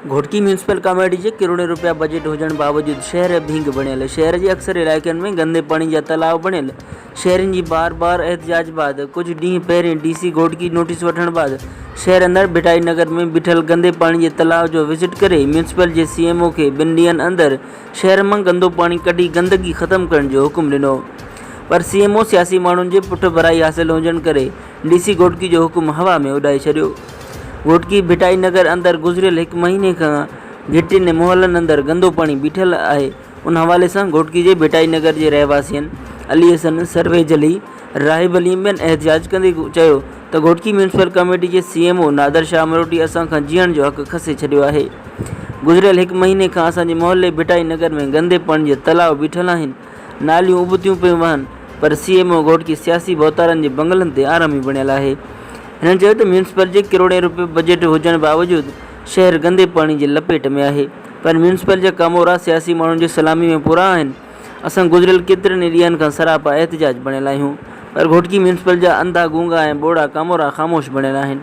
Ghotki municipal committee جي ڪروڙين روپيا بجيٽ هجڻ باوجود شهر ڀينگ بڻيل، شهر جي اڪثر علائقن ۾ گندي پاڻي جا تلاء بڻيل، شهرين جي بار بار احتجاج بعد ڪجهه ڏينهن پهرين ڊي سي گهوٽڪي نوٽيس وٺڻ بعد شهر اندر ڀٽائي نگر ۾ بيٺل گندي پاڻي جي تلاء جو وزٽ ڪري ميونسپل جي سي ايم او کي ٻن ڏينهن اندر شهر مان گندو پاڻي ڪڍي گندگي ختم ڪرڻ جو حڪم ڏنو پر سي ايم او سياسي ماڻهن جي پٺڀرائي حاصل هجڻ ڪري ڊي سي گهوٽڪي جو حڪم هوا ۾ اڏائي ڇڏيو. گهوٽڪي ڀٽائي نگر اندر گذريل هڪ مهيني کان گهٽين ۽ محلن اندر گندو پاڻي بيٺل آهي ان حوالي سان گهوٽڪي جي ڀٽائي نگر جي رهواسين علي حسن سرويجلي، راهب عليم ٻين احتجاج ڪندي چيو ته گهوٽڪي ميونسپل ڪميٽي جي C M O Nadir Shah Amroti اسان کان جيئڻ جو حق کسي ڇڏيو آهي گذريل هڪ مهيني کان اسان جي محلي ڀٽائي نگر ۾ گندي پاڻي جا تلاء بيٺل آهن ناليون ابتيون پيون وهن پر سي ايم او گهوٽڪي سياسي ڀوتارن جي بنگلن تي آرامي بڻيل آهي هنن چيو ته ميونسپل جي ڪروڙين روپيه بجيٽ هجڻ باوجود شهر گندي پاڻي جي لپيٽ ۾ آهي پر ميونسپل جا ڪامورا سياسي ماڻهن جي سلامي ۾ پورا آهن. اسان گذريل ڪيترن ئي ڏينهن کان سراپا احتجاج بڻيل آهيون پر گهوٽڪي ميونسپل جا انڌا گونگا ۽ ٻوڙا ڪامورا خاموش بڻيل آهن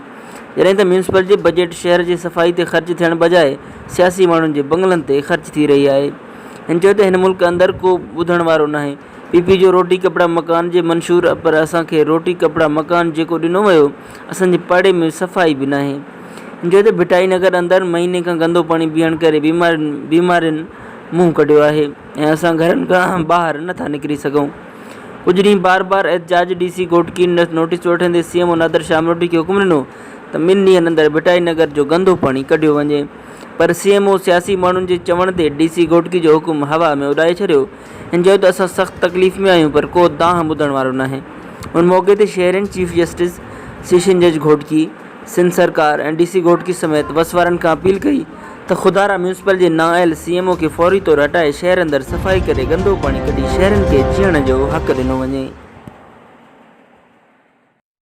جڏهن ته ميونسپل جي بجيٽ شهر جي صفائي تي خرچ ٿيڻ بجاء سياسي ماڻهن جي بنگلن تي خرچ ٿي رهي آهي هن چيو ته هن ملڪ اندر ڪو ٻڌڻ وارو ناهي پي پي جو روٽي ڪپڙا مڪان جي منشور پر اسان کي روٽي ڪپڙا مڪان جيڪو ڏنو ويو اسان جي پاڙي ۾ صفائي به ناهي هن چيو ته ڀٽائي نگر اندر مهيني کان گندو پاڻي بيهڻ ڪري بيمارين منهن ڪڍيو آهي ۽ اسان گهرن کان ٻاهر نه ٿا نڪري سگهون. ڪجهه ڏينهن بار بار احتجاج ڊي سي گهوٽڪي نوٽيس وٺندي C M O Nadir Shah مروٽي کي حڪم ڏنو ته ٻن ڏينهن اندر ڀٽائي نگر جو گندو پاڻي ڪڍيو وڃي پر سي ايم او سياسي ماڻهن جي چوڻ تي ڊي سي گهوٽڪي جو حڪم هوا ۾ اڏائي ڇڏيو ۽ چيو ته اسان سخت تڪليف ۾ آهيون پر ڪو دانهن ٻڌڻ وارو ناهي. ان موقعي تي شهرين چيف جسٽس، سيشن جج گهوٽڪي، سنڌ سرڪار ۽ ڊي سي گهوٽڪي سميت وس وارن کان اپيل ڪئي ته خدارا ميونسپل جي نااهل سي ايم او کي فوري طور هٽائي شهر اندر صفائي ڪري گندو پاڻي ڪڍي شهرين کي جيئڻ جو حق ڏنو وڃي.